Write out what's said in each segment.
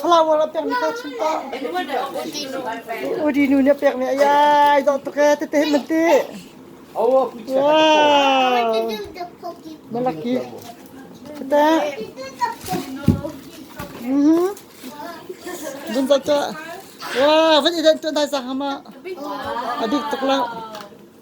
Flower a pekmi ka chim ko. Udi nu nih a pekmi a ai dawh tuk ee tete man ti. Wow. Malaki. Tete. Mhm. Bun ta ta. Wow, van idan tu dai sa hama. Adik tuk la.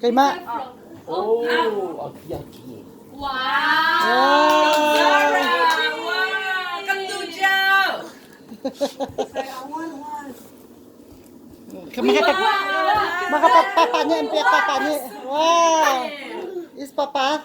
Keimah. Oh, okay, okay. Makapapa nih an pek papa nih. Wow. Is papa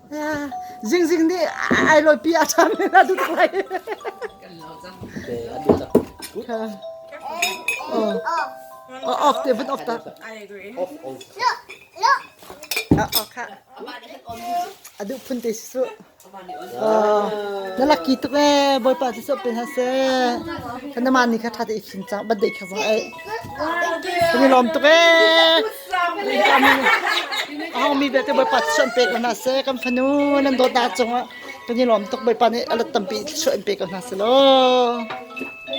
Zingzing nih ai loipi a ṭhan len a duh lai. Oh, off te vun off ta. Ah, oh, kha. Aduh phun te si su. Oh, na lucky tuk e, boipa ti so pe ha se. Kana man ni kha tha te ikhin chang, bad de kha wa ai. Kan i lawm tuk ee! A hongmi belte Bawipa thluachuah in pe ko hna seh. Kan fanu nan dawtnak cungah kan i lawm tuk. Bawipa nih a lat tampi thluachuah in pe ko hna seh law.